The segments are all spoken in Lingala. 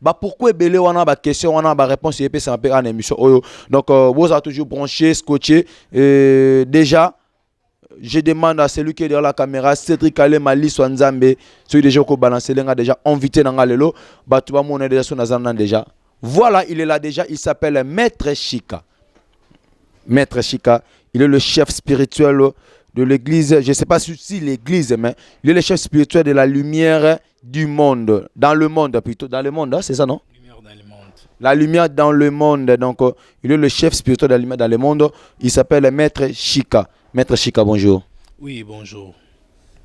ba pourquoi ebele wana ba question wana ba réponse epesama mpe kaka na émission oyo donc euh, bozala toujours branché scotché euh, déjà je demande à celui qui est derrière la caméra cédric alema liswa nzambe soki déjà okobalanse lenga déjà invité na nga lelo bato bamona déjà so naza nan déjà voilà il est là déjà il s'appelle maître chika maître chika il est le chef spirituel de l'église je sais pas si l'église mais il est le chef spirituel de la lumière du monde, dans le monde plutôt, dans le monde, hein, c'est ça non Lumière dans le monde. La lumière dans le monde, donc euh, il est le chef spirituel de la lumière dans le monde, il s'appelle Maître Shika. Maître Shika, bonjour. Oui, bonjour.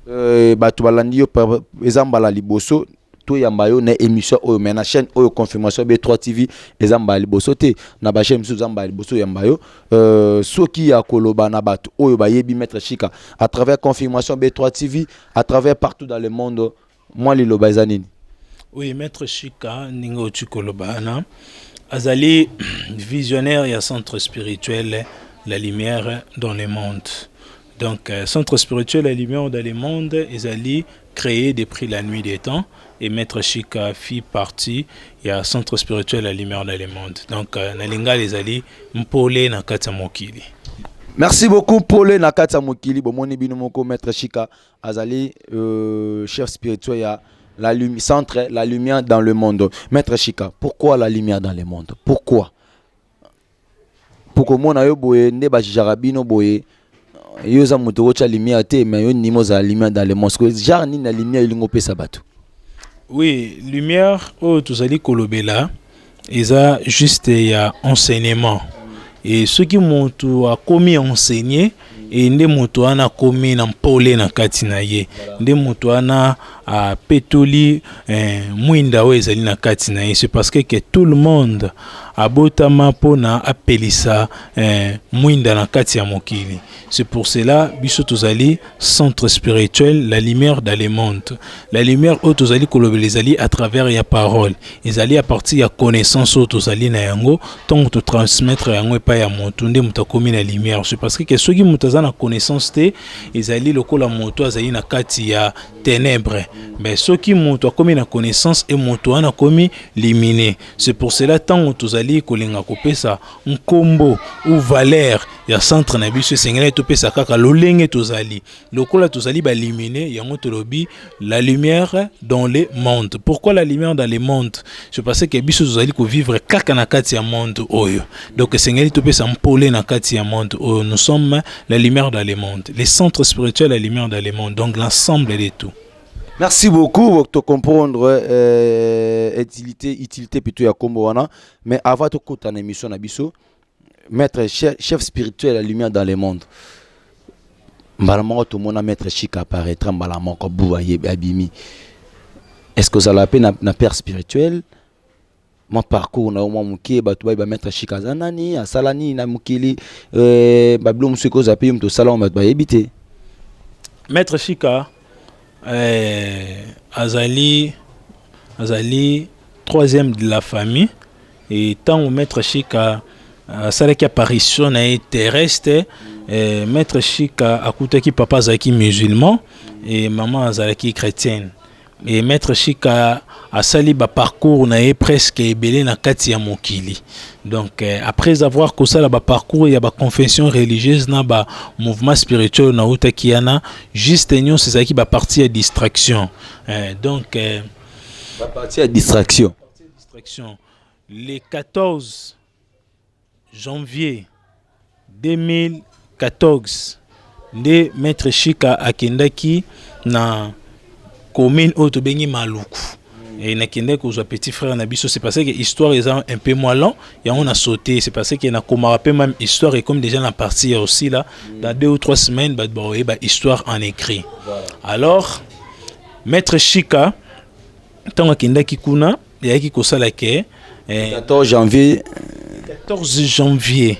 Euh, bato balandi yo pa- eza mbala liboso toyamba yo na émission oyo mais na chaîne oyo confirmation b3 tv eza mbala liboso te na bachaîne mosusu eza mbala liboso oyamba yo euh, soki ya koloba na bato oyo bayebi maître shika à travers confirmation b3 tv à travers partout dans le monde mwa liloba eza nini oui maître shika ndenge oti koloba na azali visionnaire ya centre spirituel la lumière dans le monde donc euh, centre spirituel la lumière dans le monde ezali créé depuis la nuit des temps et maitre chic fit partie ya centre spirituel ya lumière dans le monde donc euh, na lingala ezali mpole na kati ya mokili merci beaucoup mpole na kati ya mokili bomoni bino moko maitre chika azali euh, chef spirituel ya la lumi, centre la lumière dans le monde maitre chika pourquoi la lumière dans le monde pourquoi mpo komona yo boye nde bajijaka bino boye yo oza moto okotya lumière te mais yo nima ozala lumière dans le monde sikoyo genre nini na lumière elingi opesa bato oui lumière oyo tozali kolobela eza juste ya enseignement e soki moto akomi enseigne e nde moto wana akomi na mpole na kati na ye, nde moto wana apetoli eh, mwinda oyo ezali na kati na ye. C'est parce que, que tout le monde abotama mpo na apelisa eh, mwinda na kati ya mokili. C'est pour cela biso tozali centre spirituel la lumière dans le monde. La lumière oyo tozali kolobela ezali à travers ya parole ezali a partir ya connaissance oyo tozali na yango ntango totransmettre yango epai ya moto nde moto akomi na lumière ce parce que soki moto aza na connaissance te ezali lokola moto azali na kati ya ténèbres mais soki moto akomi na connaissance e moto wana akomi limine c'est pour cela ntango tozali kolinga kopesa nkombo ou valeur ya centre na biso esengeli topesa kaka lolenge tozali lokola tozali balumine yango tolobi la lumière dans le monde pourquoi la lumière dans le monde c'est parce que biso tozali kovivre kaka na kati ya monde oyo donc esengeli topesa mpole na kati ya monde oyo nous sommes la lumière dans le monde les centres spirituels la lumière dans le monde donc l'ensemble de tout merci beaucoup to comprendre euh, utilité utilité plutôt ya kombo wana mais avant tokota na émission na biso maître chef, chef spirituel ya lumière dans le monde mbala moko tomona maître chika apparaîtra mbala moko bu abimi est ce que ozala mpe na, na père spirituel mwa parcours na yo mwa moke bato baye bamaître chika aza nani asala nini na mokili euh, babilo mosusu ekoza mpe yo moto osala yango bato bayebi te maître chika Eh, azali azali troisième de la famille et ntango maître Shika asalaki apparition na ye terrestre eh, maître Shika akutaki papa azalaki musulman et maman azalaki chrétienne et maître Shika asali ba parcours na ye presque ebele na kati ya mokili donc euh, après avoir kosala ba parcours ya ba confession religieuse na ba mouvement spirituel na utaki yana juste nyonso ezalaki ba partie ya distraction euh, donc euh, ba partie ya distraction distraction les 14 Janvier 2014 nde maître Shika akendaki na commune oyo tobengi Maluku et nakendaki kozwa petit frère na biso c'est parce que histoire est un peu moins long on a sauté c'est parce que nakomaka mpe même histoire et comme déjà na partie ya là dans deux ou trois semaines bah baoye bah, bah, histoire en écrit alors maître Shika ntango akendaki kuna eyaki kosala ke 14 janvier 14 janvier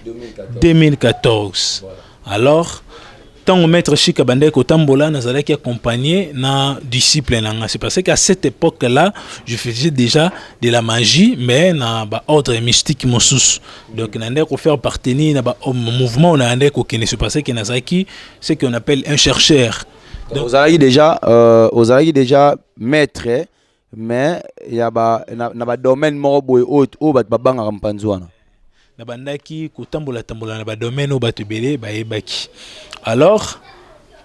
2014 alors ntango maître shika bandaki kotambola nazalaki accompagné na disciple na nga c'est parce qu'à cette époque là je faisais déjà de la magie mais na baordre mystique mosusu donc nandaki kofaire partenir na bamouvement oyo nayandaki kokende c'est parce que nazalaki ce qu'on appelle un chercheur ozalaki déjà euh, ozalaki déjà maître mais ya ba na, na ba domaine moko boye oyo oyo bato babangaka mpanzi wana nabandaki kotambola tambola na ba domaine oyo bato ebele bayebaki alors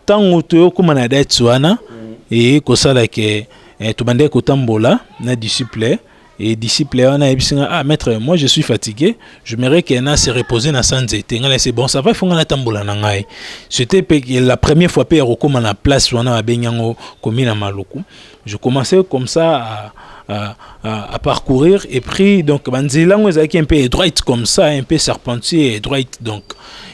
ntango toyokoma na date wana mm. e kosala ke eh, tobandaki kotambola na disciple et disciple wana ayebisi nga ah maître moi je suis fatigué je mairais que na se reposer na sans ete nga na se bon ça va ifonga natambola na ngai c'était la première fois mpe ya kokóma na place wana babengi yango komi na maluku Je commençais comme ça à, à, à, à parcourir et puis donc banzela yango ezalaki un peu droite comme ça un peu serpentier et droite donc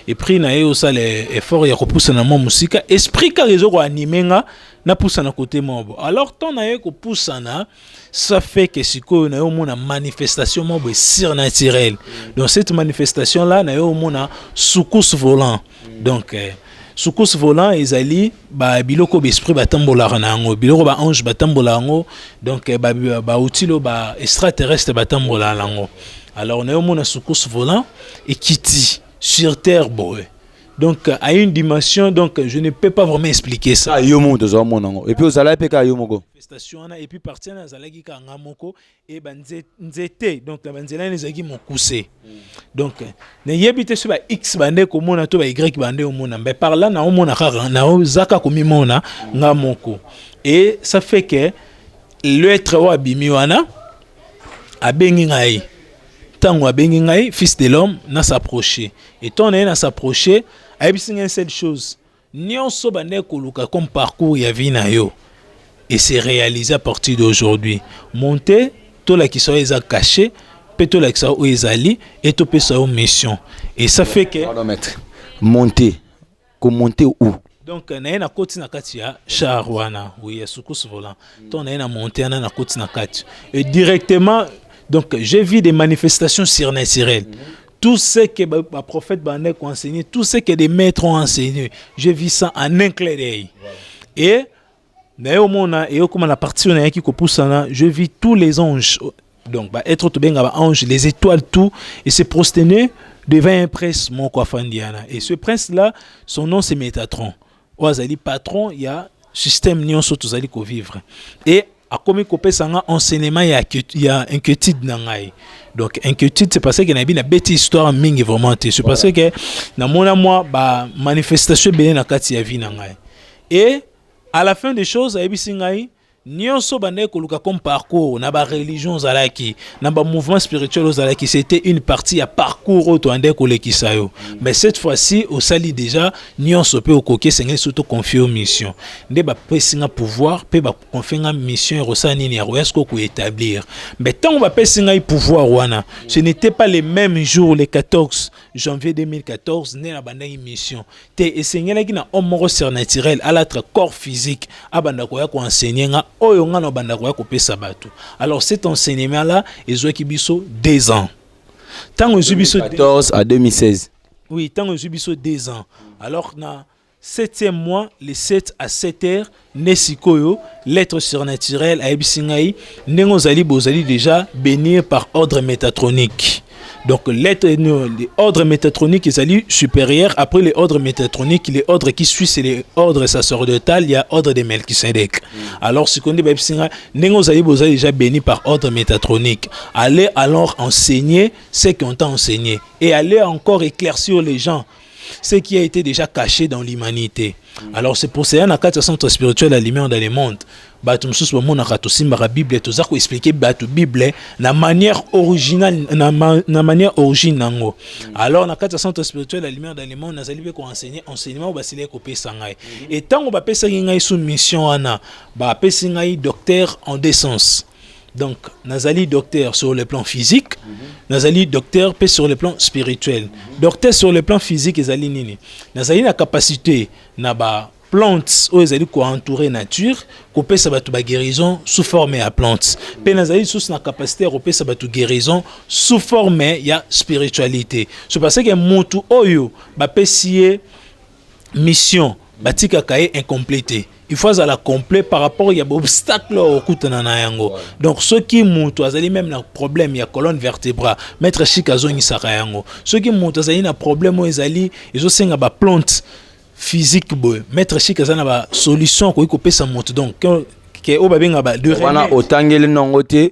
et puis na ye osala effort ya kopusana mwa mosika esprit kaka ezo koanime nga napusana kote moko alors temps na ye kopusana ça fait que sikoyo na ye omona manifestation moko boye surnaturelle donc cette manifestation là na ye omona soukous volant donc euh, soukous volant ezali ba biloko ba esprit batambolaka na yango biloko ba ange batambolaka yango donc eh, bauti lo ba extraterrestre batambolaka na yango alors nayo omona sukusu volant ekiti sur terre boye donc à une dimension donc je ne peux pas vraiment expliquer ça ah, yo moko tozwa mona yango epuis ozalaki mpe kaka yo moko manifestation wana epuis parti wana azalaki kanga moko e ba nzete donc na banzela ene ezalaki mokuse donc nayebi te so ba x bande komona to ba y bande omona mbe par là naomona kaka naozaka komimona nga moko e ça fait que l'être oyo abimi wana abengi ngai ntango abengi ngai fils de l'homme na s'approche etant na ye na s'approche ayebisi ngai seule chose Nionso bandaki koluka comme parcours ya vie na yo et se realiser à partir d'aujourd'hui. Monter tolakisa yo eza caché mpe tolakisa yo oyo ezali et topesa yo mission et ça fait que Pardon maître. Monter. Komonter où? donc naye nakoti na kati ya char wana oui ya sukusu volant ntango naye na monte wana nakoti na kati et directement donc j'ai vu des manifestations surnaturelles tout ce que ba prophète bandaki ko enseigner tout ce que des maîtres ont enseigné je vis ça en un clair d'œil et naye omona eyokoma na parti oyo nayaki kopusana je vis tous les anges donc ba être tobenga ba ange les étoiles tout et se prosterner devant un prince moko afandi wana et ce prince là son nom c'est Métatron oyo azali patron ya système nyonso tozali kovivre e akomi kopesa nga enseignement ya, ya inquiétude na ngai donc inquiétude c'est parce que nayebi nabeti histoire mingi vraiment te c'est parce que namona mwa bamanifestation ebele na kati ya vie na ngai e à la fin des choses ayebisi ngai nionso bandaki koluka comme parcours na ba religion ozalaki na ba mouvement spirituel ozalaki c'était une partie ya parcours oyo toandaki kolekisa yo mais cette fois-ci osali déjà nionso mpe okoki esengeli so toconfie yo mission nde bapesi nga pouvoir mpe baconfie nga mission ya kosala nini ya koya sikoyo koétablir mais ntango bapesi ngai pouvoir wana ce n'était pas le même jour le 14 janvier 2014 nde nabandaki mission te esengelaki na homme moko surnaturel alatre corps physique abanda koya koenseigne nga oyo nga na obanda koya kopesa bato alors cet enseignement là ezwaki biso deux ans ntango ezwi biso 14 à 2016 oui ntango ezwi biso deux ans alors na septième mois le 7 à 7 heures nde sikoyo l'être surnaturel ayebisi ngai ndenge ozali bozali déjà bénir par ordre métatronique donc l'être ordre métatronique ezali supérieur après les ordres métatroniques les ordres qui suit c'est les ordres sacerdotal ya ordre de melchisedek mm. alors sikoyo nde bayebisi ngai ndenge ozali bozali déjà béni par ordre métatronique allez alors enseigner ce qu'on t'a enseigné et allez encore éclaircir les gens ce qui a été déjà caché dans l'humanité mm. alors c'est pour cela na kati ya centre spirituel la lumière dans le monde bato mosusu bamonaka tosimbaka bible toza koexplike bato bible na manière originale na, ma, na manière origine nango mm. alors na kati ya centre spirituel la lumière dans le monde nazali mpe koenseigne enseignement oyo basilaki kopesa ngai mm. e ntango bapesaki ngai sous mission wana bapesi ngai docteur en descence Donc, Nazali docteur sur le plan physique, mm -hmm. Nazali docteur pe sur le plan spirituel. Mm -hmm. Docteur sur le plan physique ezali nini? Nazali na capacité na ba plantes oyo ezali ko entourer nature, ko pesa batu ba guérison sous forme ya plantes. Pe nazali sous na capacité ko pesa batu guérison sous forme ya spiritualité. C'est parce que mutu oyo ba pesiye mission batikaka ye incomplet te il faut azala complet par rapport ya baobstacle oyo okutana na yango donc soki moto azali meme na problème ya colonne vertebra maître chik azongisaka yango soki moto azali na problème oyo ezali ezosenga baplante physique boye maître chik aza na basolution akoki kopesa moto donc ke oyo babengaka ba wana otangeli nango te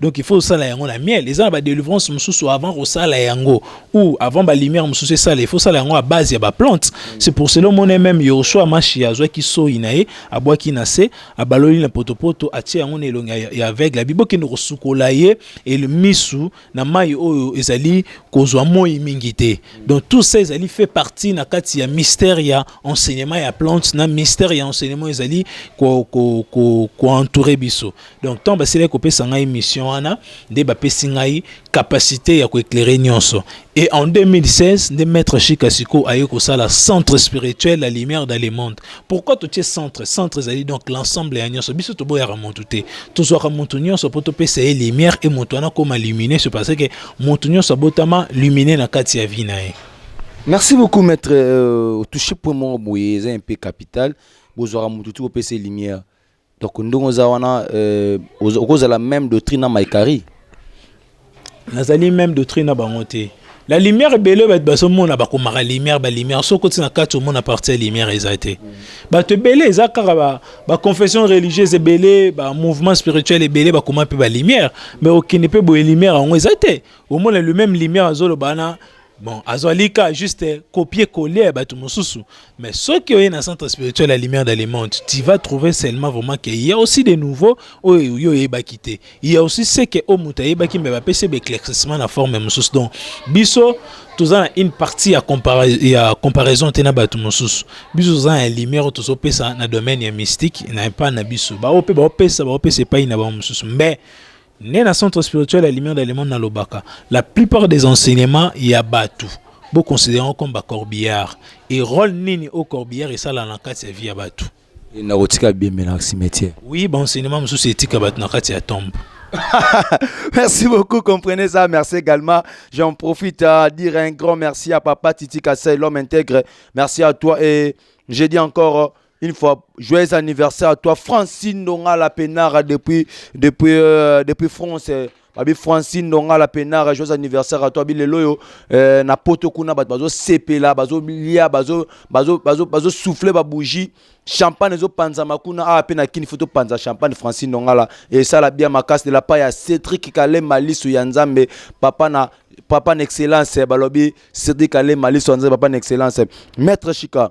donc il faut osala yango na miel eza na badelivrance mosusu avant kosala yango ou avant balumière mosusu esala il faut osala yango à base ya baplante c'est pour cela omona meme yosua mashi azwaki soi na ye abwaki na se abaloli na potopoto atie yango na elongi ya aveugle abi bokende kosukola ye misu na mai oyo ezali kozwa moi mingi te donc tout ça ezali fait partie na kati ya mystère ya enseignement ya plante na mystère ya enseignement ezali koentoure ko, ko, ko biso donc ntango basilaki kopesa ngai mission wana nde bapesi ngai capacité ya koeclaire nyonso et en 2016 nde maître chika siko aye kosala centre spirituel la lumière dans le monde pourquoi totie centre centre ezali donc l'ensemble ya nyonso biso toboyaka motu te tozwaka motu nyonso mpo topesa ye lumière e motu wana akoma lumine se parce que motu nyonso abotama lumine na kati ya vie na ye merci beaucoup maître euh, touche point moko boye eza mpe capital bozwaka motu ti kopesa lumière Donc ndongo oza wana euh, okozala même doctrine na Maikari. Nazali même doctrine na bango te. La lumière ebele bato bazomona bakomaka lumière ba lumière soki okoti na kati omona parti ya lumière eza te bato ebele eza kaka ba, ba confession religieuse ebele ba mouvement spirituel ebele bakoma mpe ba lumière mais okende mpe boye lumière yango eza te omona le même lumière azoloba wana bon azwali ka juste copier coller ya bato mosusu mais soki oye na centre spirituel ya lumière de le monde tu vas trouver seulement vraiment que il y a aussi de nouveau oyo yo oyebaki te il y a aussi ce que oyo moto ayebaki mais bapesi ebe éclaircissement na forme mosusu donc biso toza na une partie ya, compara ya comparaison te na bato mosusu biso toza na lumière oyo tozopesa na domaine ya mystique na epai na biso baoyo mpe baopesa baopesa epai na bango mosusu mais Né na centre spirituel ya lumière de le monde nalobaka la plupart des enseignements ya bato bo considérant comme ba corbillard et rôle nini au corbillard esala na kati ya vie ya bato na kotika bembe na cimetière oui ba enseignement mosusu etika bato na kati ya tombe merci beaucoup, comprenez ça. Merci également. J'en profite à dire un grand merci à Papa Titi Kassai, l'homme intègre. Merci à toi et j'ai dit encore Une fois, joyeux anniversaire à toi, Francine Dongala Penara depuis, depuis, euh, depuis France. Euh, babi francine ndonga la penara joyeux anniversaire à toi bi lelo oyo eh, na poto kuna bato bazosepela bazolia bazo, bazo, bazo, bazo souffle babougie champagne ezopanzama kuna awa ah, mpe na kini fo topanza champagne francine ndongala esala bia makasi de la part ya cédrik kalema lisu ya nzambe papa na papa na excellence balobi cédrik kalema lisu ya nzambe papa na excellence maître chika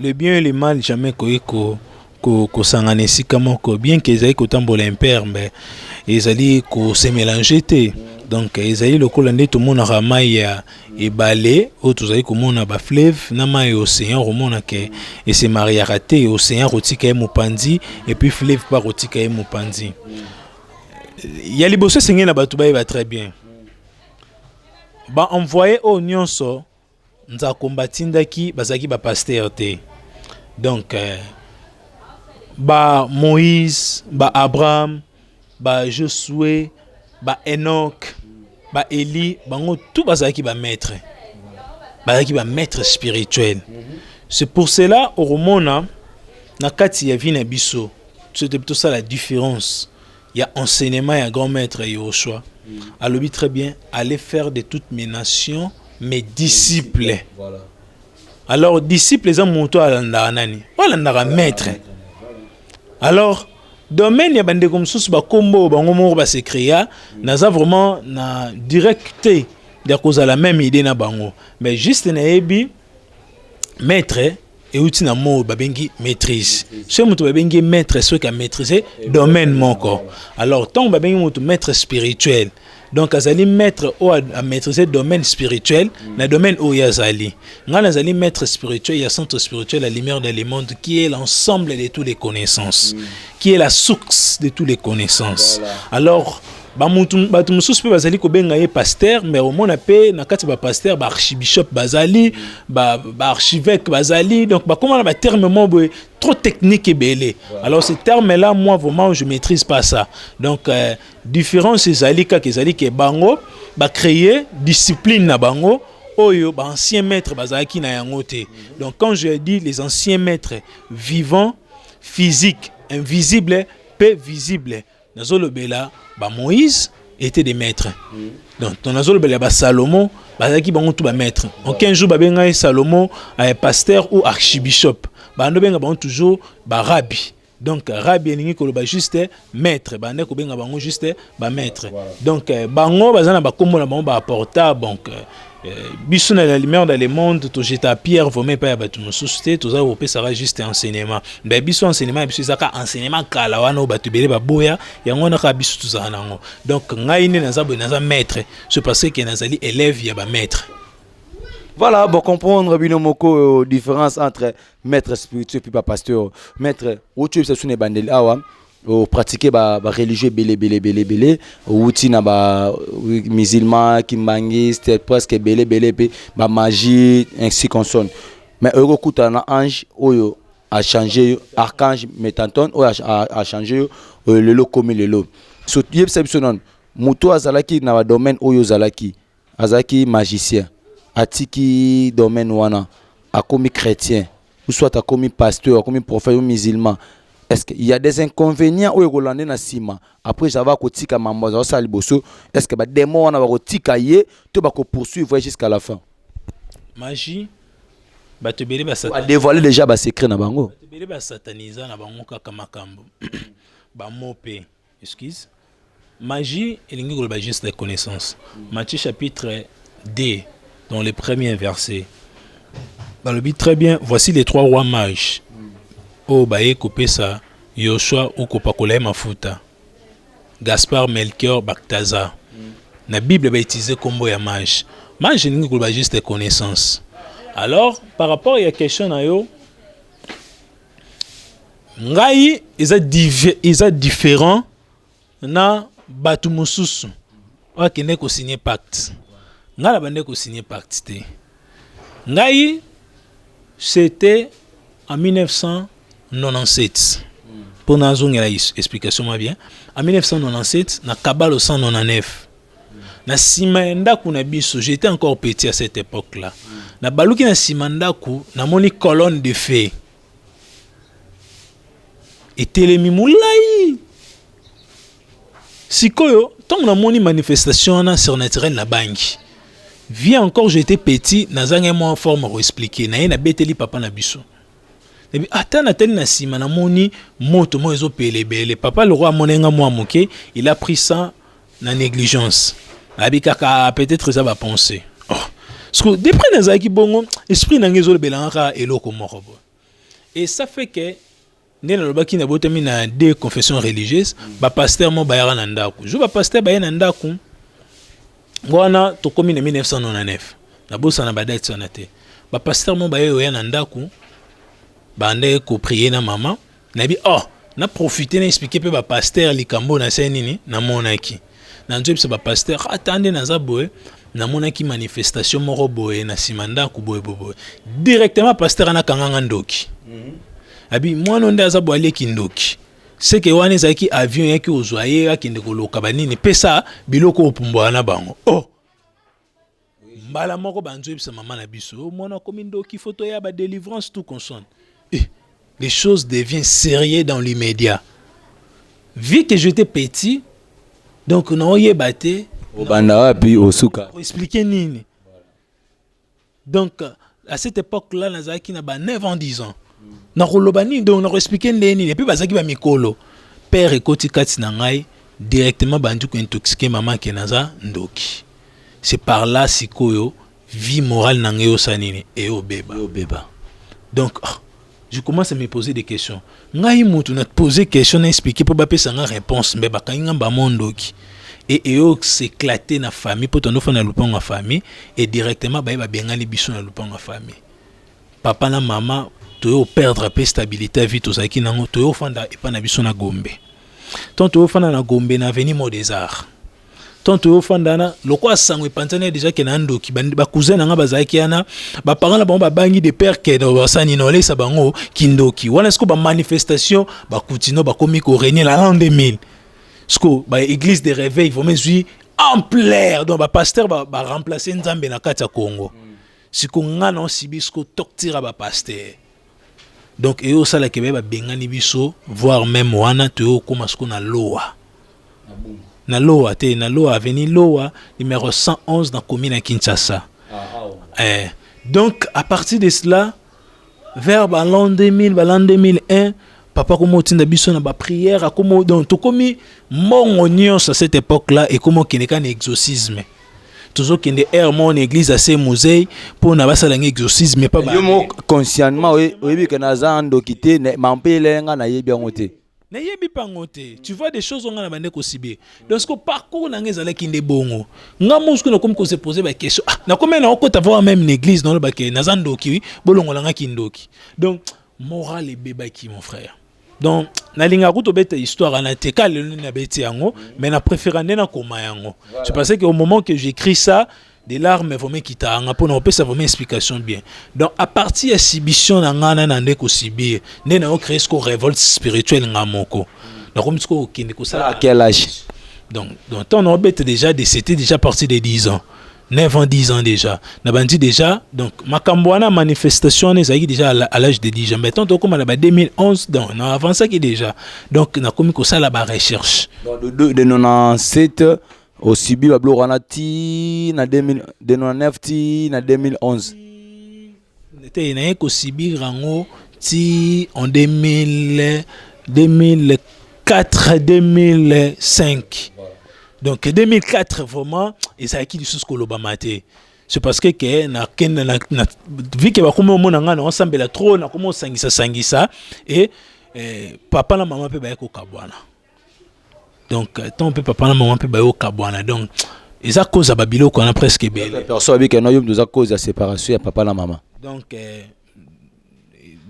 Le bien et le mal jamais ekoki ko kosangana esika moko bien que ezali kotambola impere mais ezali ko se mélanger te donc ezali lokola nde tomonaka mai ya ebale oyo tozali komona ba fleuve na mai ya océan okomona ke ese mariaka te océan akotika ye mopanzi epuis fleuve mpe akotika ye mopanzi ya liboso esengeli na bato bayeba très bien baenvoye oyo nyonso Nzakomba atindaki bazalaki ba pasteur te donc euh, ba Moïse ba Abraham ba Josué ba Enoch ba Eli bango tout bazalaki ba maître bazalaki ba maître spirituel c'est pour cela okomona na kati ya vie na biso tosala différence Il y a enseignement et un grand maître Yoshua. Mm. Alobi très bien, allez faire de toutes mes nations mes disciples. Voilà. Alors, disciples, ils ont monté à l'andaranani. Voilà, l'andara maître. Alors, domaine ya bandeko mosusu bakombo oyo bango moko base créa naza vraiment na directe ya kozala même idée na bango mais juste nayebi maître euti na mot babengi maîtrise soki moto babengi maître soki amaîtrise domaine moko alors ntango babengi moto maître spirituel donc azali maître oyo amaîtrise domaine spirituel mm. na domaine oyo azali ngai nazali maître spirituel ya centre spirituel la lumière de le monde qui est l'ensemble de toutes les connaissances mm. qui est la source de toutes les connaissances voilà. alors bato mosusu mpe bazali kobenga ye paster mais omona mpe na kati bapaster baarchibishop bazali baarchivêque bazali donc bakóma na baterme mo boye trop technique ebele alors ce terme là moi vraiment je maîtrise pas ça donc euh, différence ezali kaka ezali ke bango bacréer discipline na bango oyo baancien maître bazalaki na yango te donc quand je dis les anciens maîtres vivants physique invisible mpe visible, visible nazolobela ba moïse était des maîtres mm. donc ton nazolobela ba salomon bazalaki bango tout ba maîtres en 15 jours babengaki salomon euh, pasteur ou archibishop bando benga bango toujours ba rabbi donc rabi elingi koloba juste maître bande kobenga bango juste bamaître donc euh, bango baza na bakombo na bango baaporta donc euh, Euh, biso na la lumière dans le monde tojeta pierre vraimen epai ya bato mosusu te toza kopesaka juste enseignement be biso enseignement ya biso ezaka enseignement kala wana oyo bato ebele baboya yango wana kaka biso tozala na yango donc ngai nde naza boye naza maître ce parce que nazali élève ya bamaître voilà bocomprendre bino moko euh, différence entre maître spirituel mpe bapasteur maître otyebisa biso na ebandeli awa o pratique ba, ba religieux ebele bele bele bele outi na ba musulman kimbanguiste presque ebele bele pe ba magie ainsi consonne mais oyo kokutana na ange oyo a changer archange metanton oyo a changer oyo lelo komi lelo so yebisa biso nanu moto azalaki na ba domaine oyo ozalaki azalaki magicien atiki domaine wana akomi chrétien ou soit akomi pasteur akomi prophète ou musulman est-ce qu'il y a des inconvénients oyo ekolande na nsima après java akotika mambo azala osala liboso est ce que bademo wana bakotika ye to bakopoursuivre ye jusqu'à la fin magie bato ebele badevoile déjà basecret na bango bato ebele basatanisa na bango kaka makambo bamope Excuse. Magie elingi koloba juste de connaissance. Matthieu chapitre 2 dans le premier verset. Balobi très bien, voici les trois rois mages. Oyo baye kopesa Yoshua ou kopakola ye mafuta. Gaspard, Melchior, Balthazar. Na Bible ba utiliser kombo ya mage. Mage elingi koloba juste de connaissance. Alors, par rapport ya question na yo, ngai eza dive eza différent na bato mosusu oyo akende kosigne pacte ngai na bande kosigne pacte te ngai c'était en 1997 mpo nazongela explication mwa bien en 1997 na kabalo 199 na sima ya ndako na biso j'étais encore petit à cette époque là na baluki na sima ndako namoni colonne de feu etelemi molai sikoyo ntango namoni manifestation wana surnaturel na bangi vie encore j'étais petit nazangai mwa forme koexplike na ye nabeteli papa na biso ebi ata natali na nsima namoni moto moko ezopela ebele papa lokwa amonenga mwa moke il a pris ça na négligence nayebi kaka peut-être eza ba pensée oh. siko depuis nazalaki bongo esprit na ngai ezolobelanga kaka eloko moko boye et ça fait que nde nalobaki nabotami na deux confession religieuse bapaster mo bayaka na ndako jour bapaster baye na ndako wana tokómi na 1999 nabosana badate wana te bapaster mo baye oya na ndako bandaki koprie na mama nayebi oh na profite na expliquer pe ba pasteur likambo na se nini namonaki na nzoyi biso ba pasteur ata nde naza boye namonaki manifestation moko boye na nsima ndako boye boye directement pasteur ana kanganga ndoki mhm. abi mwana nde aza boye aleki ndoki seke wana ezalaki avion yaki ozwa ye akende koloka banini pesa biloko opumbwaka na bango oh mbala moko banzo yebisa mama na biso mwana akomi ndoki foto ya ba délivrance tout consonne eh, les choses deviennent sérieux dans l'immédiat vu que j'étais petit donc naoyeba te obanda wapi osuka expliquer nini donc à cette époque là nazalaki na ba 9 ans 10 ans nakoloba nini donc nakoexplike ndenge nini epuis bazalaki bamikolo père ekoti kati na ngai directement bandi kointoxike mama ke naza ndoki c'est par là sikoyo vie morale na ngai osa nini eobeba donc oh, je commence à me poser des questions ngai mutu na poser question na expliquer mpo bapesa nga réponse mais bakangi nga mbamo ndoki e eyo s'éclater na famille mpo tondofana na lupango ya famille et directement baye babengani biso na lupango ya famille papa na mama toyo perdre mpe stabilité ya vie tozalaki nango toyo ofanda epai na biso na gombe ntango toyo ofanda na gombe na avenue mot des arts tonto yo ofanda wana lokola sango epanzani deja ke na ndoki bacousin na ngai bazalaki wana baparent na bango babangi de père ke basani na olesa bango kindoki wana siko bamanifestation bakutino bakomi koregne na l'an 2000 siko baeglise de réveil vraimen ezwi ampleur donc bapasteur baremplace nzambe na kati ya congo siko ngai na osibi siko toktira bapasteur donc eyo osala ke ba bengani biso voir même wana toyo okoma siko na lowa na lowa te na lowa aveni lowa numero 111 na commune ya kinshasa ah, ah, eh, donc à partir de cela vers balan 2000 balan 2001 papa akoma otinda biso na baprière akoma donc tokomi mbongo nyonso à cette époque là ekoma okende kaka na exorcisme tozo kende air mon église à ses musée pour na basala ngi exorcisme pas yo mo conscientement oyebi que naza ndoki te ma mpe elenga na yebi yango te na yebi pango te tu vois des choses nga na bande ko sibe donc ce parcours na nga ezalaki nde bongo nga mo na komi ko se poser ba question ah na komi na okota voir même une église dans le baké naza ndoki bolongola nga ki ndoki donc morale ebebaki mon frère donc nalingaka kutu obeta histoire wana te ka lelo nini abeti yango mais na préféra nde nakoma yango c'est parce que au moment que j'écris ça des larmes vraimen ekitaka nga mpona kopesa vraimen explication bien donc à partir ya sibition na ngai na na nde kosibir nde nayo créer siko révolte spirituelle nga moko nakomi siko kokende kosala à quel âge donc donc ntango naobeta déjà de c'était déjà parti de 10 ans 9 ans 10 ans déjà na bandi déjà donc makambo wana manifestation wana ezalaki déjà à l'âge de 10 ans mais tant tokóma na ba 2011 donc na avancaki déjà donc nakomi kosala ba recherche de, de, de 97 osibi babiloko wana ti na 2009 ti na 2011 Te, naye ko subir yango ti en 2000, 2004, 2005. Donc 2004 vraiment ezalaki lisusu kolobama te. C'est parce que ke na kende na, na vu que bakomi omona ngai na osambela trop na komi osangisa sangisa et eh, papa na mama mpe baye kokabwana. donc ntango mpe papa na mama mpe bayokabwana donc eza cause ya babiloko wana presque ebele perso abika na yo mtu eza cause ya séparation ya papa na mama donc eh,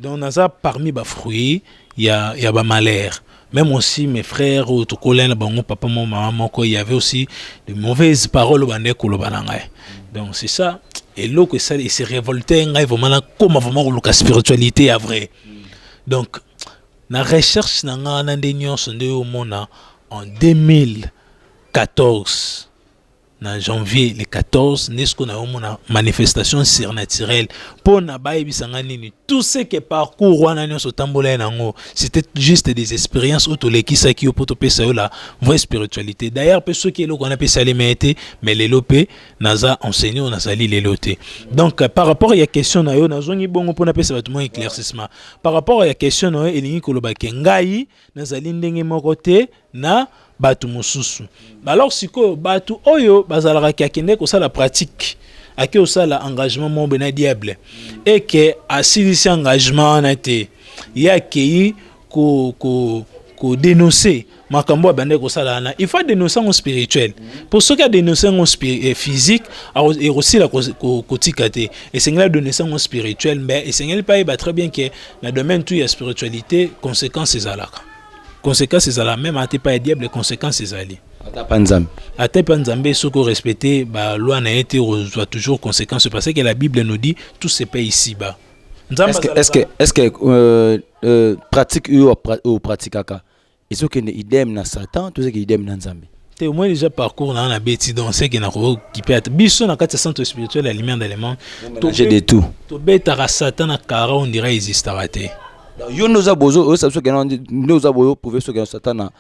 donc naza parmi bafruit ya, ya bamalheur même aussi mes frères oyo tokolai na bango papa mo mama moko y avait aussi de mauvaises paroles oyo bandaki koloba na ngai donc c'est ça eloko esali ese révolte ngai vraiment nakoma vraiment koluka spiritualité ya vrai donc Na recherche na nga wana nde nyonso nde omona en 2014 na janvier le 14 nde sikoyo nayomona manifestation surnaturelle mpo na bayebisa nga nini tout ce que parcours wana nyonso otambolai nango c'était juste des expériences oyo tolekisaki yo mpo topesa yo la vraie spiritualité d'ailleurs mpe soki eloko wana mpe esalema ye te mais lelo mpe naza enseigne oyo nazali lelo te donc par rapport ya question na yo nazongi bongo mpo napesa bato mwa éclaircissement Par rapport ya question na yo elingi koloba ke ngai nazali ndenge moko te na bato mosusu. Ba alors sikoyo bato oyo bazalaka ke akende kosala pratique ake osala engagement moko boye na diable et ke asilisi engagement wana te ye akei ko, ko, ko denoncer makambo oyo abandaki kosala wana il faut adenonse yango spirituel mpo soki adenonse yango eh, physique ekosila kotika te esengeli adenonse yango spirituel mais esengeli mpe ayeba très bien ke na domaine tout ya spiritualité conséquence ezalaka conséquence ezala meme ata epai ya diable conséquence ezali ata mpa nzambe ata mpa nzambe soki orespecte baloi na ye te okozwa toujours conséquence parce que la bible nous dit tout se paye ici bas est-ce que, est -ce que, est -ce que euh, euh, pratique oyo opratikaka ezokende idem na satan tozeke idem na nzambe te au moins déjà parcours na na beti donc c'est que na ko kipe ata biso na kati centre spirituel ya lumière d'allemand to j'ai de tout to betaka satan na kara on dirait existaka te yo ndoza bozo oyo sabiso kena nde oza boyo prouver soki satan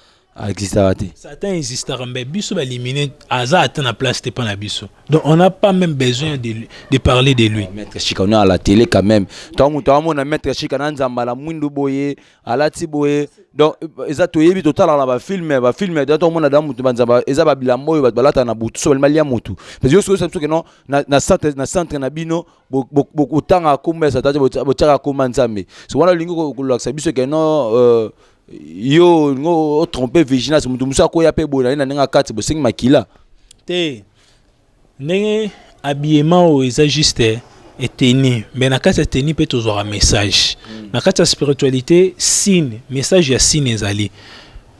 existaka te satan existaka mais biso ba éliminer aza ata na place te pa na biso donc on n'a pas même besoin de, de parler de lui maître chika on est à la télé quand même tango moto amona maître chika na nzambala mwindu boye alati boye donc eza toyebi totalaka na bafilme bafilme da tomona da motu banzamba eza babilamba oyo bato balataka na butu so balimali ya motu parce yo soki soki no na centre na centre na bino bokotanga nkombo ya satan te botyaka nkombo ya nzambe so wana olingi kolakisa biso ke no euh, yo olingi otrompe vigilance motu mosusu akoya mpe boye na ye na ndenge akati bosengi makila te Ndenge habillement oyo eza juste eteni mais na kati ya teni mpe tozwaka message mm. na kati ya spiritualité signe message ya signe ezali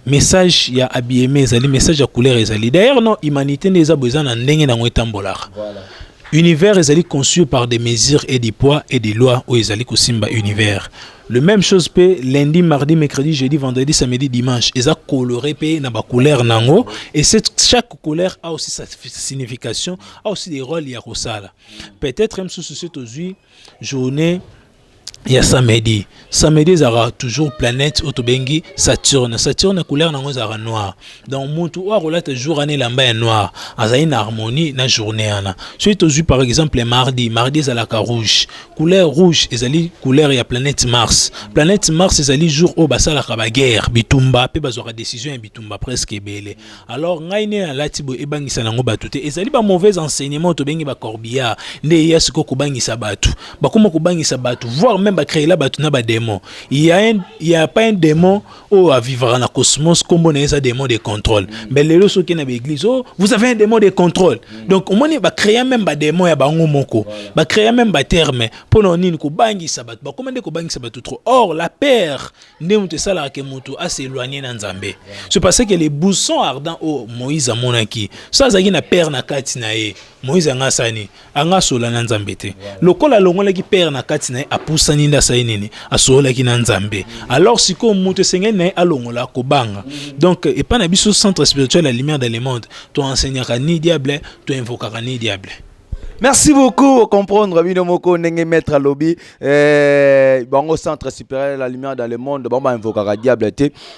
message ya habillement ezali message ya couleur ezali d'ailleurs non humanité nde eza boza na ndenge nango etambolaka voilà. univers ezali conçu par des mesures et des poids et des lois oyo ezali kosimba univers Le même chose pe lundi, mardi, mercredi, jeudi, vendredi, samedi, dimanche. Eza coloré pe na ba couleurs nango et cette chaque couleur a aussi sa signification, a aussi des rôles ya kosala. Peut-être même sous ce tozui journée ya samedi samedi ezalaka toujours planète oyo tobengi saturne saturne couleur nango ezalaka noir donc motu oyo akolata jour wana elamba ya noir azali na harmonie na journée wana soki tozwi par exemple mardi mardi ezalaka rouge couleur rouge ezali couleur ya planète mars planète mars ezali jour oyo basalaka baguerre bitumba mpe bazwaka décision ya bitumba presque ebele alors ngai nde nalati boye ebangisa nango bato te ezali ba mauvais enseignement tobengi bacorbillard nde eya sikoyo kobangisa bato bakoma kobangisa bato voire même bacréela bato na badémon ya, ya pas un démon oyo oh, avivaka na cosmos nkombo na ye eza démon de contrôle mm. mais lelo soki okei na baeglise o oh, vous avez un démon de contrôle mm. donc omoni bacréa meme badémon ya bango moko bacréa meme baterme mpo na nini kobangisa bato bakoma nde kobangisa bato trop or la père nde moto esalaka ke moto aseloigne na nzambe ce parce que le bousson ardent oyo oh, moïse amonaki so azalaki na père na kati na ye moïse anga asani anga asola na nzambe te lokola alongolaki père na kati na ye apusani nde asali nini asololaki na nzambe alors sikoyo moto esengeli na ye alongola kobanga donc epai na biso centre spirituel la lumière de le monde toenseignaka ni diable toinvokaka ni diable merci beaucoup comprendre bino moko ndenge maître alobi eh, bango centre supérieur la lumière dans le monde bango bainvokaka diable te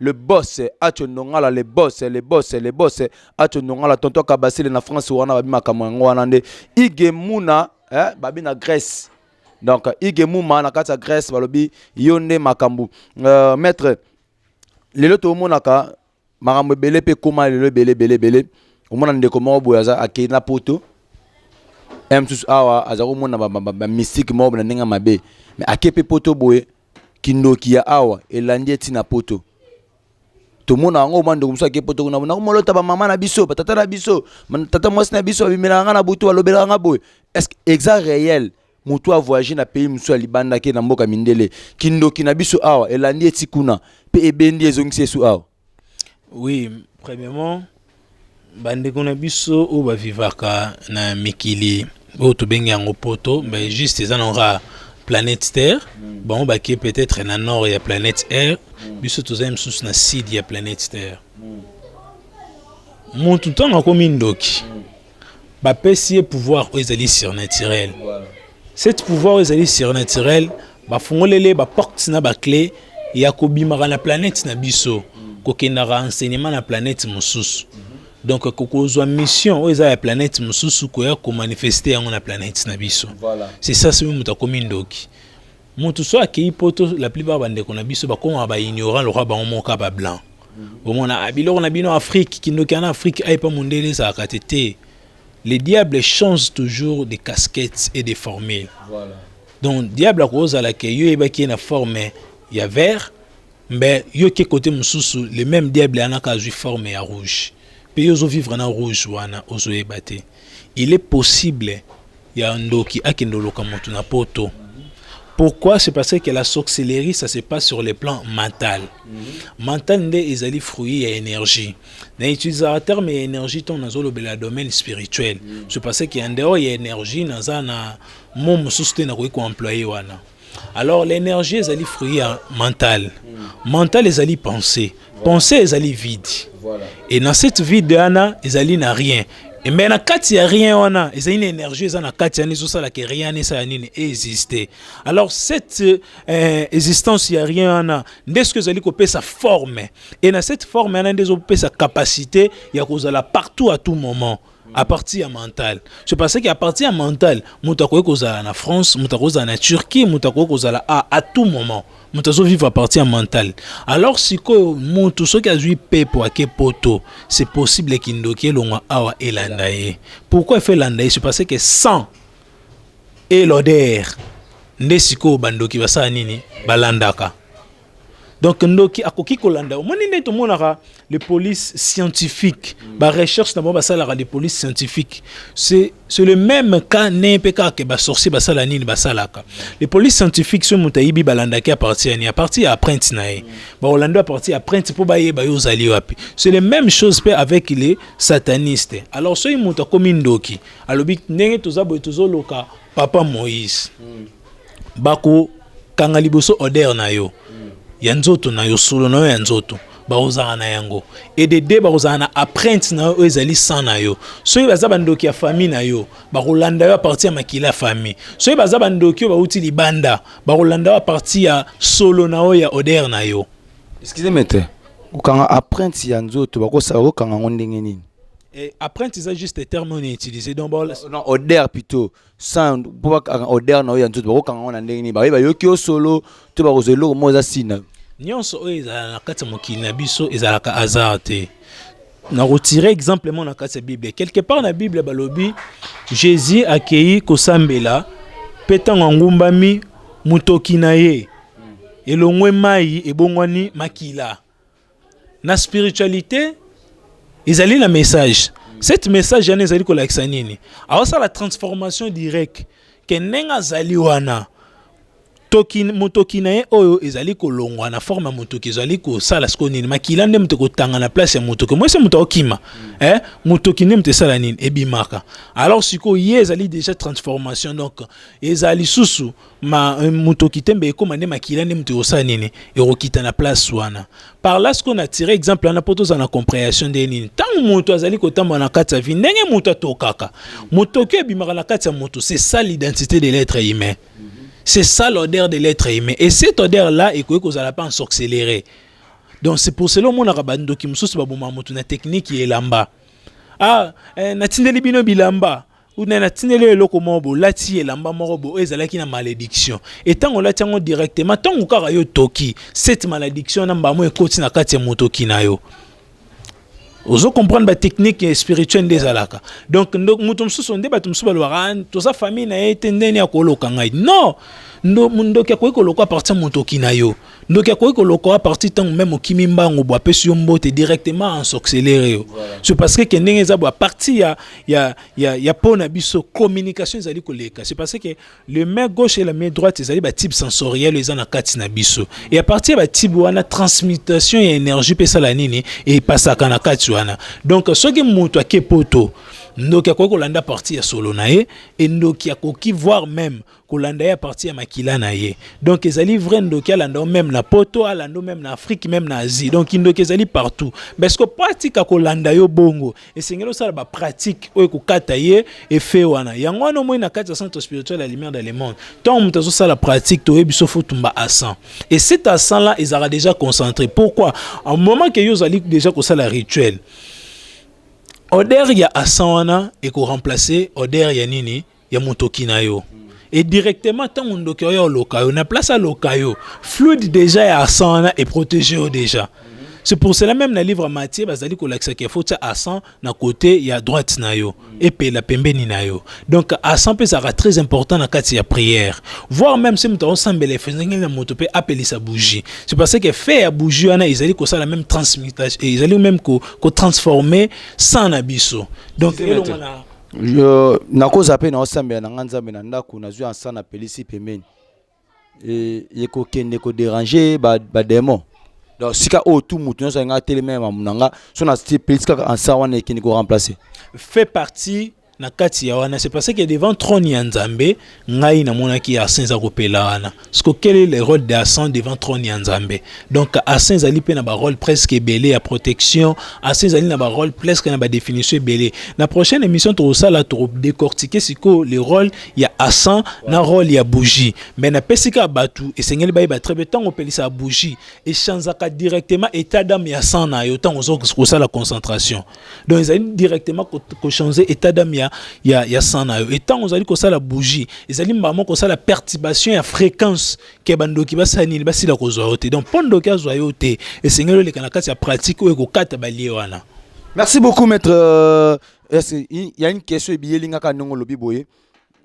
le boss acho nongala le boss le boss le boss acho nongala tonton kabasile na france wana babi makambo yango wana nde ige muna eh, babi na grèce donc ige muma na kati ya grèce balobi yo nde makambo uh, maître lelo tomonaka makambo ebele mpe ekoma lelo ebele ebele ebele omona ndeko moko boye aza akei na poto ya mosusu awa aza komona bamystike moko na ndenge ya mabe me ake mpe poto boye Kindoki ya awa elandi ye ti na poto. Tomona yango mwa ndeko mosusu ake poto kuna na komolota bamama na biso batata na biso tata mwasi na biso babimelaka ngai na butu balobelaka ngai boye est-ce que exa réel motu avoyage na pays mosusu ya libanda ake na mboka mindele kindoki na biso awa elandi ye ti kuna mpe ebendi ezongisi esu awa Oui, premièrement, bandeko na biso oyo bavivaka na mikili oyo tobengi yango poto mais juste eza nangoka planète terre bango bakie peut-être na nord ya planète air biso tozali mosusu na sud ya planète terre motu ntango akomi ndoki bapesi ye pouvoir oyo ezali surnaturel cette pouvoir oyo ezali surnaturel bafungolele baporte na baclé ya kobimaka na planète na biso kokendaka enseignement na planète mosusu donc kokozwa mission oyo eza ya planète mosusu koya komanifeste yango na planète na biso c'est ça soki moto akomi ndoki mutu so akeyi poto la plupart bandeko na biso bakoma ba ignorant lokola bango moko kaka ba blanc bomona ah, biloko na bino afrique kindoki ana afrique ayepa mondele ezalaka te te le diable change toujours de casquettes et de formule voilà. donc diable akozala ke yo oyebaki ye na forme ya vert Mais yo ke kote mususu le meme diable wana ka azui forme ya rouge pe yo ozo vivre na rouge wana ozo yeba te il est possible ya ndoki akende oloka mutu na poto pourquoi c'est parce que la sorcellerie ça se passe sur le plan mental mhm. mental nde ezali fruit ya énergie na utilisaka terme ya énergie ntango nazolobela domaine spirituel mhm. c'est parce que en dehors ya énergie naza na mo mosusu te nakoki koemploye wana Alors l'énergie ezali fruit ya mental. Mental ezali pensée. Pensée ezali vide. Voilà. Et dans cette vide wana ezali na rien. Et mais na kati ya rien wana ezali na énergie eza na kati yani ezosala ke rien wana esala nini existe. Alors cette euh, existence ya rien wana nde soki ezali kopesa forme. Et na cette forme wana nde ezopesa capacité ya kozala partout à tout moment. à partir ya mental ce parce que à partir ya mental moto akoki kozala na france moto akoki kozala na turquie moto akoki kozala a à tout moment moto azovivre à partir ya mental alors sikoyo moto soki azwi pepo ake poto c'est possible kindoki elongwa awa elanda ye pourquoi efe elanda ye ce parce que sans et l'odeur nde sikoyo bandoki basala nini balandaka donc ndoki akoki kolanda omoni nde tomonaka les polices scientifiques mm. barecherche na bango basalaka les polices scientifiques c'est le même cas ne mpe kaka basorcier basala nini basalaka les polices scientifiques soki moto ayibi balandaki aparti yani aparti ya apprenti na ye mm. bakolanda aparti ya apprenti mpo bayeba yo ozali wapi c'est le même chose mpe avec les satanistes alors soki moto akomi ndoki alobi ndenge toza boye tozoloka papa moïse mm. bakokanga liboso odeur na yo ya nzoto na yo solo na yo ya nzoto bakozala na yango edede bakozala na apprente na yo oyo ezali san na yo soki baza bandoki ya famille na yo bakolanda yo aparti ya makila ya famille soki baza bandoki oyo bauti libanda bakolanda yo aparti ya solo na yo ya odeur na yo excuse maitre kokanga apprente ya nzoto bakosala kokanga yango ndenge nini Eh, apprenti eza juste terme oyo na utilise donc ba- Non, odeur plutôt. sans mpo bakanga odeur na yo ya nzoto bakokanga ngo na ndenge nini baye bayoki yo solo to bakozwa eloko moko eza si na yo nyonso oyo ezala na kati ya mokili na biso ezalaka hasard te nakotire exemple moko na kati ya bible quelque part na bible balobi jésus akei kosambela mpe ntango angumbami motoki na ye elongwe mai ebongwani makila na spiritualité ezali na message cette message yana ezali kolakisa nini aosala transformation direct ke ndenge azali wana toki motoki na ye oyo ezali kolongwa na forme ya motoki ezali kosala siko nini makila nde moto ekotanga na place ya motoki mwese moto aokima mm. eh, motoki nde moto esala nini ebimaka alors sikoyo ye ezali déjà transformation donc ezali lisusu ma euh, moto okite mbe ekoma nde makila nde moto ekosala nini ekokita na place wana par là sikoyo na tire exemple wana mpo tozala na comprehension nde nini ntango moto azali kotambola na kati ya vie ndenge moto atokaka motoki ebimaka na kati ya moto c'est ça l'identité de l'être humain c'est ça l'odeur de l'être humain et cette odeur là ekoki kozala mpe en sorcellerie donc c'est pour cela omonaka bandoki mosusu baboma moto na technique ya elamba ah eh, natindeli bino bilamba una natindeli yo eloko moko bo olati elamba moko bo oyo ezalaki na malediction e ntango olati yango directement ntango kaka yo toki cette malediction na mbamo ekoti na kati ya motoki na yo ozo comprendre ba technique spirituelle nde ezalaka donc moto mosusu nde bato mosusu balobaka ah, toza famille na ye te ndeni akoloka ngai non ndoki akoki koloka apartir motoki na yo ndoki akoki kolokola parti ntango meme okimi mbangu bo apesi yo mbote directement ensorcelere yo c'est parce que ke ndenge eza bo parti ya, ya, ya, ya mpo na biso communication ezali koleka c'est parce que le main gauche et la main droite ezali batype sensoriel eza na kati na biso et à partir ya batype wana transmutation ya énergie mpe esala nini epasaka na kati wana donc soki moto ake poto ndoki akoki kolanda parti ya solo na ye endoki akoki voir meme kolanda ye parti ya makila na ye donc ezali vrai ndoki alanda yo meme na poto alanda yo meme na afrique meme na asie donc kindoki ezali partout parce que po atika kolanda yo bongo esengeli osala bapratique oyo ekokata ye efe wana yango wana omoi na kati ya centre spirituel ya lumière de le monde ntango moto azosala pratique toyebi biso fotumba à 100 et cet à 100 là ezalaka déjà concentré pourquoi au moment que yo ozali déjà kosala rituel odeur ya asan wana ekoremplace odeur ya nini ya motoki na yo et directement ntango ndoki oyo oloka yo na place aloka yo fluide déjà ya arsan wana eprotege yo déjà c'est pour cela même na livre matie bazali kolakisa ke faut tya arsan na kote ya droite na yo epela pembeni na yo donc arsan mpe ezalaka très important na kati ya prière voir même se moto akosambela efesengeli na moto mpe apelisa bougie c'est parce que fe ya bougie wana ezali kosala même transmutation ezali même kotransforme ko sang na biso donc elongo na Je nakoza pe na osambela na nga nzambe na ndako nazwi ansa na pelisi pembeni e, ekokende koderange bademon ba donc sika oyo tu moto nyonso alinga atelema ya mamu na nga so na pelisi kaka ansa wana ekende koremplace fait partie na kati ya wana c'est parce que devant trône ya nzambe ngai namonaki arsen eza kopela wana siko quel est le rôle de arsen devant trône ya nzambe donc arsen ezali mpe na barole presque ebele ya protection arsen ezali na barole presque na badéfinition ebele na prochaine émission tokosala tokodécortike sikoyo le rôle ya arsen na rôle ya bougie mais napesi kaka bato esengeli bayeba très bien ntango opelisaka bougie echanzaka directement état d'âme ya sang na yo ntango oza kosala concentration donc ezali directement kochange état d'âme ya, ya, ya sang na yo etango ozali kosala bougie ezali mbala moko kosala perturbation ya fréquence ke bandoki basala nini basila kozwa yo te donc mpo ndoki azwa yo te esengeli oleka na kati ya pratique oyo ekokata balie wana merci beaucoup maître euh, il y a une question ebiyeli nga ka ndenge olobi boye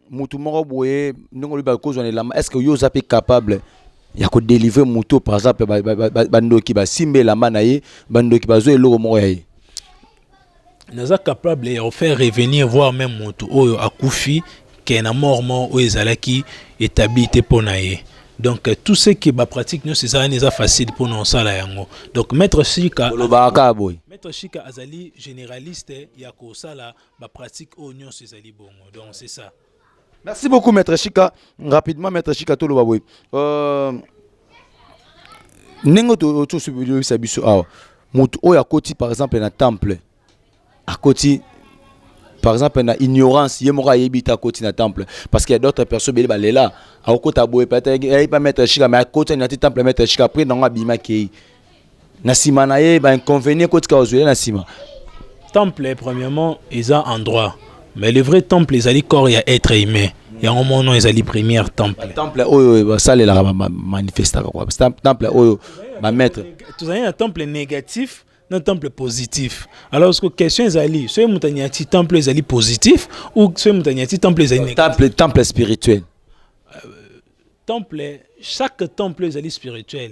mutu moko boye ndenge olobi bakozwa na elamba est-ce que yo oza mpe capable ya kodelivre moto par exemple bandoki basimba elamba na ye bandoki bazwa eloko moko ya ye naza capable ya kofaire revenir voir même moto oyo akufi ke na mort mort oyo ezalaki établi te mpo na ye donc euh, tout ce qui bapratique nyonso eza wana eza facile mpona kosala yango donc maître shika olobaka boye maître shika azali généraliste ya kosala Ba pratique oyo nyonso ezali bongo. Donc c'est ça. Merci beaucoup maître Chika. Rapidement maître Chika to loba boye. Euh ndenge to to subisa biso awa. Moto oyo akoti par exemple na temple akoti par exemple na ignorance ye moko ayebi te akoti na temple parce qu'il y a d'autres personnes bele balela akokota boye peut-être ayebi pas maître chika mais akoti na ti temple maître chika après nango abima kei na sima na ye ba inconvénients kotika ozwela na sima temple premièrement eza endroit mais le vrai temple ezali corps ya être humain yango mono ezali première temple temple oyo basalelaka bamanifestaka kua temple oyo bamaître tozali na temple négatif na temple positif alors que question ezali soki moto anyati temple ezali positif ou soki moto anyati temple ezali négatif temple spirituel euh, temple chaque temple ezali spirituel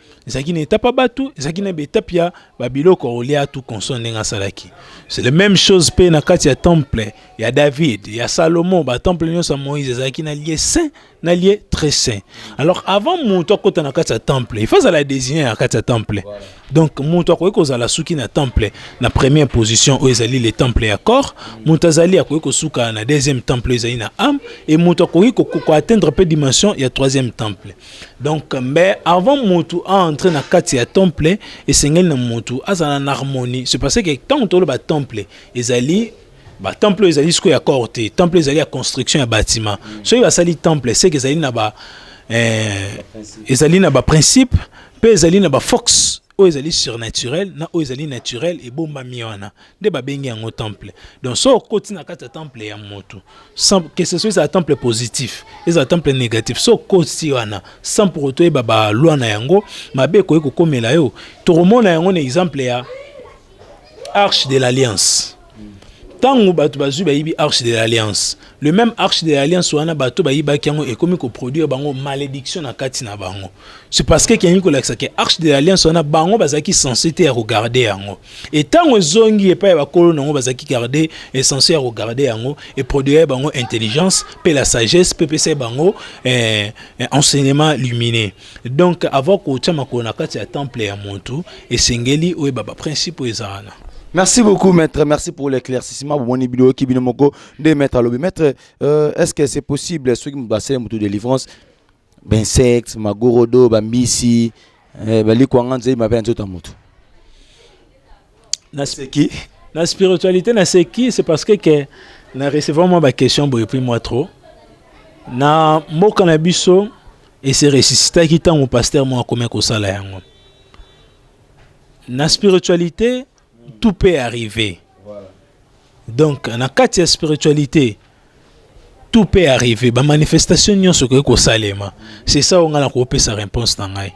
ezalaki na etape ya bato ezalaki na baetape ya babiloko ya olia tu console ndenge asalaki c'est la même chose mpe na kati ya temple ya david ya salomo batemple nyonso ya moïse ezalaki na lie saint na lie très saint alors avant moto akota na kati ya temple ifa azala désigné na kati ya temple donc moto akoki kozala suki na temple na première position oyo ezali le temple ya corps moto azali akoki kosuka na deuxième temple oyo ezali na âme e moto akoki koatteindre mpe dimension ya troisième temple donc mais avant mutu aentre na kati ya temple esengeli na mutu azala na harmonie c'est parce que ntango toloba temple ezali batemple oyo ezali sikoyo ya corps te temple ezali ya construction ya bâtiment mm. soki basali temple seke ezali na ba eh, ezali na baprincipe mpe ezali na baforce oyo ezali surnaturel na oyo ezali naturel ebombami wana nde babengi yango temple donc so okoti na kati ya temple ya moto que ce soit ezala temple positif ezala temple négatif so okoti wana sans pour autant oyeba balwa na yango mabe ekoki kokomela yo tokomona yango na exemple ya arche de l'alliance ntango bato bazwi bayibi arche de l'alliance le même arche de l'alliance wana bato bayibaki yango ekomi koproduire bango malédiction na kati na bango c'est parce que ekeyangi kolakisa ke arche de l'alliance wana bango bazalaki sense te ya kogarde yango e ntango ezongi epai ya bakolo na yango bazalaki garde esense ya kogarde yango eproduire bango intelligence mpe la sagesse mpe epesai bango eh, eh, enseignement lumineux Donc avant kotia makolo na kati ya temple ya muntu esengeli oyeba ba principe oyo eza wana. Merci beaucoup maître, merci pour l'éclaircissement. Bomoni bino ki bino moko nde maître alobi. Maître, euh, est-ce que c'est possible ceux qui basele mutu délivrance ben sexe, magorodo, bambisi, eh, bali kwanga nzei mabe nzoto ya mutu. na seki na spiritualité na seki c'est parce que que na recevant moi ba question boye puis moi trop na mboka na biso et se ressuscitaki ntango pasteur moko akomi kosala yango na spiritualité tout peut arriver donc na kati ya spiritualité tout peut arriver bamanifestation nyonso ekoki kosalema c'est ça oyo ngai nakopesa réponse na ngai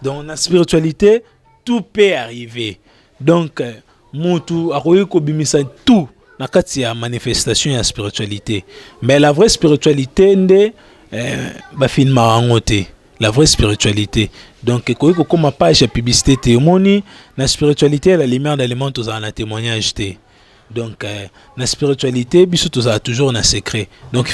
donc na spiritualité tout peut arriver donc euh, mutu akoki kobimisa tout na kati ya manifestation ya spiritualité mais la vraie spiritualité nde euh, bafilmaka yango te la vraie spiritualité donc ekoki kokoma page ya publicité te omoni na spiritualité la lumière de lemon tozala na témoignage te donc euh, na spiritualité biso tozala toujours na secret donc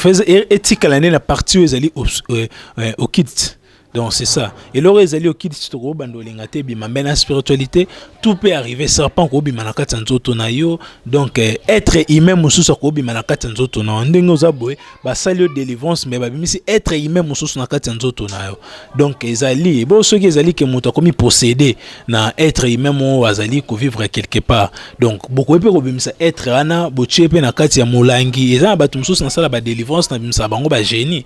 etikala nde na partie oyo ezali euh, euh, okite Donc c'est ça. Et l'or ezali okiti si toko bando linga te bima mais la spiritualité tout peut arriver serpent ko bima na kati nzoto na yo donc euh, être humain mususu ko bima na kati nzoto na ndenge oza boye ba sali yo délivrance mais ba bimisi être humain mususu na kati nzoto na yo donc ezali bon soki ezali ke moto akomi posséder na être humain mo azali ko vivre quelque part donc boko pe ko bimisa être ana botie pe na kati ya molangi eza na bato mususu na sala ba délivrance na bimisa bango ba génie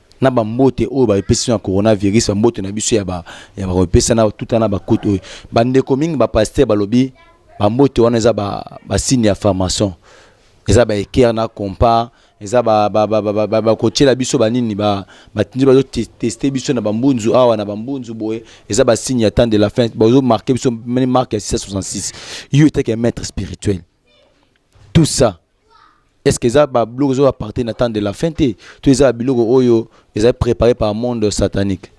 na bambote oyo bapesi na coronavirus bambote na biso ya bakopesa na tuta na bakutu oyo bandeko mingi bapaster balobi bambote wana eza basigne ya formation eza baekere na compa eza bakotyela biso banini batindi bazoteste biso na bambunzu awa na bambunzu boye eza basigne ya temps de la fin bazomarke biso marke ya 666 yo etake ya maître spirituel tout ça est ce que eza babiloko ezo aparte na temps de la fin te to eza babiloko oyo eza préparé par monde satanique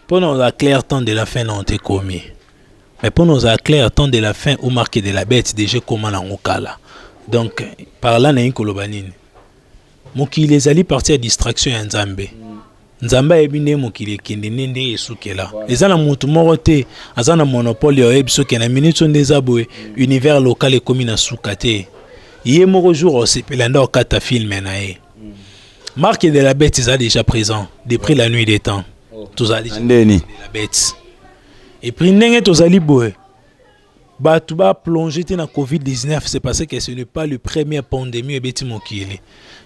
mpo na ozala clair temps de la fin na ote komi mais mpo na ozala clair temps de la fin ou marque de la bête déjà ekoma nango kala donc par là nalingi koloba nini Mokili ezali partie ya distraction ya Nzambe. Nzambe ayebi nde mokili ekende nde nde esukela. Eza na moto moko te aza na monopole ya oyebi soki na minute nde eza boye univers local ekomi na suka te. Ye moko jour osepela nde okata film na ye. Marque de la bête eza déjà présent depuis la nuit des temps. Tozali ndeni la bête. Et puis ndenge tozali boye bato ba plonge te na covid-19 c'est parce que ce n'est pas le premier pandémie ebeti mokili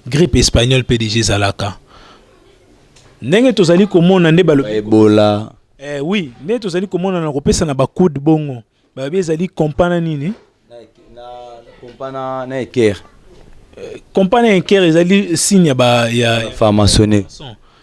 grippe espagnole mpe deja ezalaka ndenge tozali komona nde baloebola eh, oui nde tozali komona na kopesa na bakude bongo balobi ezali kompa na nini kompa na ekere kompa na ekere ezali signe ya pharmaçonne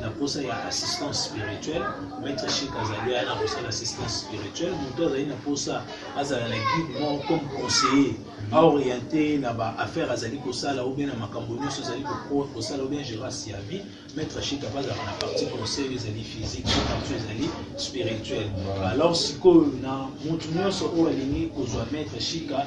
na posa ya assistance spirituelle maître chic azali aya na kosala assistance spirituelle moto azali na posa azala na guide moko comme conseiller aoriente na baaffaire azali kosala ou bien na makambo nyonso ezali kosala ou bien gérance ya vie maître chic apa azalaka na partie conseil ezali physique na partie ezali spirituelle alors sikoyo na moto nyonso oyo alingi kozwa maître chika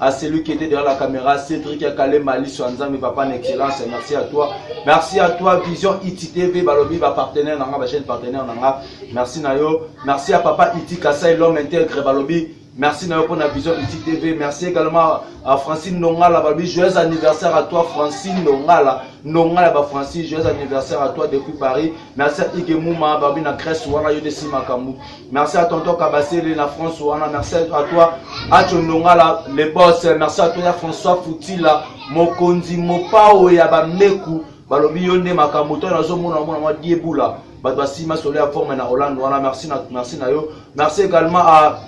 à celui qui était derrière la caméra, Cédric Akale Mali Nzambe, papa en excellence, merci à toi. Merci à toi, Vision ITTV, Balobi, ba partenaire nanga, ba chaîne partenaire nanga, merci Nayo. Merci à papa Iti Kasai, l'homme intègre, Balobi, merci Nayo pour la Vision ITTV, merci également à Francine Nongala, Balobi, joyeux anniversaire à toi, Francine Nongala, Nongala, ba Francine, joyeux anniversaire à toi depuis Paris, merci à Ike Mouma, Balobi, na Grèce, Wana, Yodesi Makambu. Merci à Tonton Kabasele na France wana. Merci à toi Acho Ndongala le boss. Merci à toi ya François Futila mokonzi mopao ya bameku balobi yo nde makambo to nazomona mona mwa diebula bato basima solo ya forme na Hollande wana merci na merci na yo. Merci également à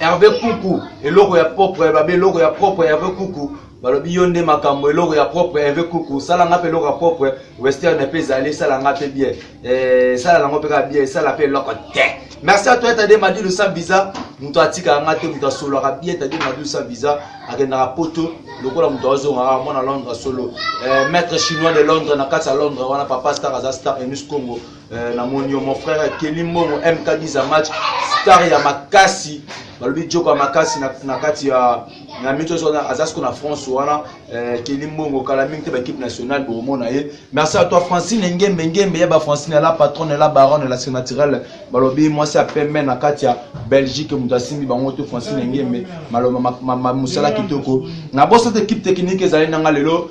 Hervé Kuku eloko ya propre babe eloko ya propre Hervé Kuku balobi yo nde makambo eloko ya propre Hervé Kuku sala nga pe eloko ya propre western pe ezali sala nga pe bien Eh, sala nango mpe kaka bien esala mpe eloko te merci à toi etade madilu sans visa moto atikaka nga te moto asololaka bien etade madilu sans visa akendaka poto lokola moto azongaka mwana londre solo eh, maître chinois de londre na kati ya londre wana papa star aza star enus congo eh, na moni yo mon frère keli mbongo mk 10 match star ya makasi balobi joko ya makasi na kati ya na miso so aza siko na france wana eh, keli mbongo kala mingi te baequipe nationale bokomona ye merci à toi francine engembe engembe ya ba francine la patronne la baronne la sénatirale balobi mwasi ya pembe na kati ya belgique moto asimbi bango te francine engembe maloba mosala kitoko na bosa te équipe technique ezali nanga lelo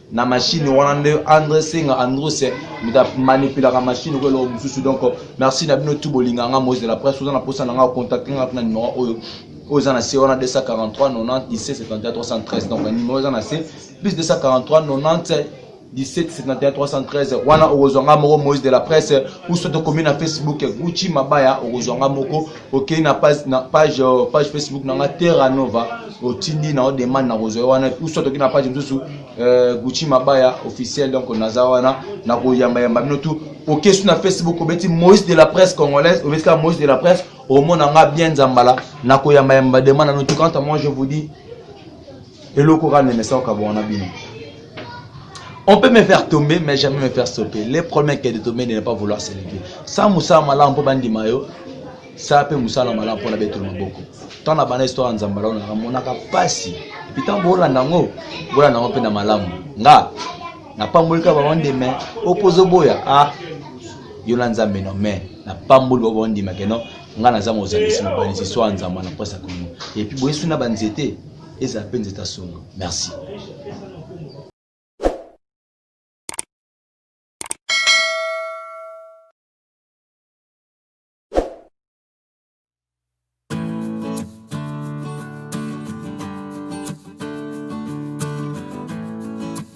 na machine wana nde andre senga andrus moto amanipulaka machine oyo eloko mosusu donc merci na bino tu bolinga nga moise de la presse oza na mposa na nga ocontacte nga na numero oyo oyo eza na se wana 243 90 17 71 313 donc numero eza na se plus 243 90 17 71 313 wana okozwa nga moko moise de la presse uso tokomi na facebook gucci mabaya okozwa nga moko okei na page, na page, euh, page facebook na nga terra nova otindi na odemande na kozwa wana uso toki na page mosusu euh, gucci mabaya officiel donc naza wana na koyambayamba bino tu okei su na facebook obeti moïse de la presse congolaise obeti kaka moïse de la presse omona nga bien nzambala na koyambayamba demande na notu quant à moi je vous dis eloko kaka nemesa kokabwana na bino On peut me faire tomber, mais jamais me faire stopper. Le problème est de tomber de ne pas vouloir s'élever. Sans Moussa Malam pour Bandi Mayo, ça peut Moussa Malam pour la bête de Maboko. Tant la bonne histoire en Zambala, on a mon akapasi. Puis tant Bola Nango, Bola Nango Pena Malam. Nga, na pamboli ka ba wande mais opposo boya ah yona nzambe no mais na pamboli ba wande mais que non nga na zama ozalisi mobali si soit nzamba na posa kono et puis boyesu na banzete ezala mpe nzete asonga merci